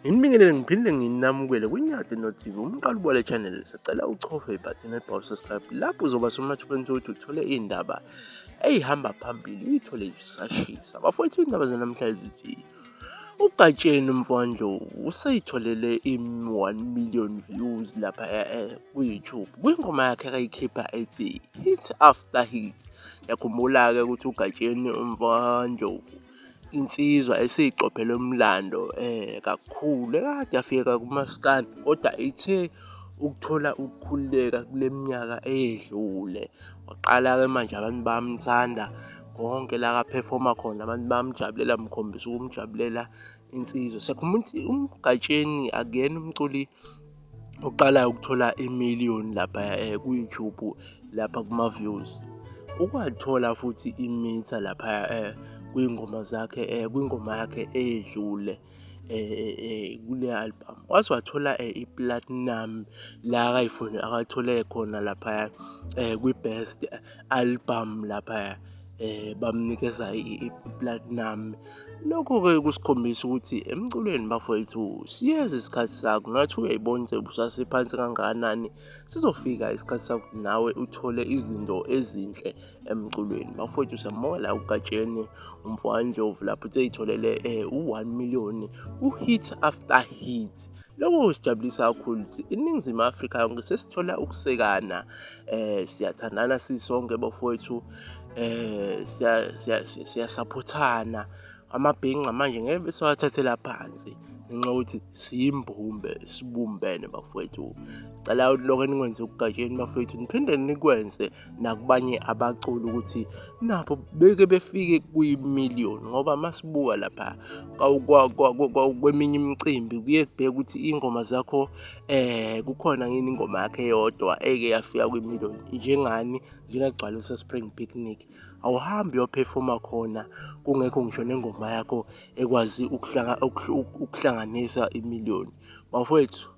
Nginibingelele ngiphinde nginamukele kwiNyati noTV umqali ubole channel sicela uchofe ibhathini elibhalwe subscribe lapho uzoba somathubeni sokuthi uthole iy'ndaba eyihamba phambili uyithole isashisa bafowethu iy'ndaba zanamhlanje zithi uGatsheni Mfondlovu useyitholele i-1 million views lapha eh, eh, ku-YouTube kwingoma yakhe akayikhipha ethi Hit After Hit. Yakhumbula-ke ukuthi uGatsheni Mfondlovu insizwa esiyiqophele umlando eh kakhulu ekade yafika kumaskandi kodwa ithe ukuthola ukukhululeka kule minyaka eyedlule waqala-ke manje abantu bamthanda konke la kaphefoma khona abantu bamjabulela mkhombisa ukumjabulela insizwa siyakhumula ukuthi umgatsheni akuyena umculi oqalayo ukuthola imiliyoni lapha eh, ku-youtube lapha kuma-views ukwathola futhi imitha lapha eh, kwingoma zakhe eh, kwingoma yakhe edlule kule album waze wathola i-platinum la akayifuni akathole khona laphaya kwi-best album laphaya eh bamnikeza i-platinum lokho-ke kusikhombisa ukuthi emculweni bafowethu siyeza isikhathi sakho nathi uyayibona ukuthi busasephansi kangakanani sizofika isikhathi sakho nawe uthole izinto ezinhle emculweni bafowethu siyamukela ugatsheni umfowandlovu lapho uthe itholele um eh, u-one million u-hit after hit lokho kusijabulisa kakhulu ukuthi iningizimu afrika yonke sesithola ukusekana um siyathandana sisonke bafowethu um siyasaphothana amabhinca manje ngeke besewathathela phansi ngenxa yokuthi siyimbumbe sibumbene bafowethu cela lonke enikwenze okugatsheni bafowethu niphinde nikwenze nakubanye abaculi ukuthi nabo beke befike kwi-million ngoba masibuka lapha kweminye imicimbi kuye kubheke ukuthi iy'ngoma zakho eh kukhona ngini ingoma yakhe yodwa eke yafika kwi-million njengani njengagcwalisa spring picnic awuhambi uyophefoma khona kungekho ngisho nengoma yakho ekwazi ukuhlanganisa imiliyoni bafowethu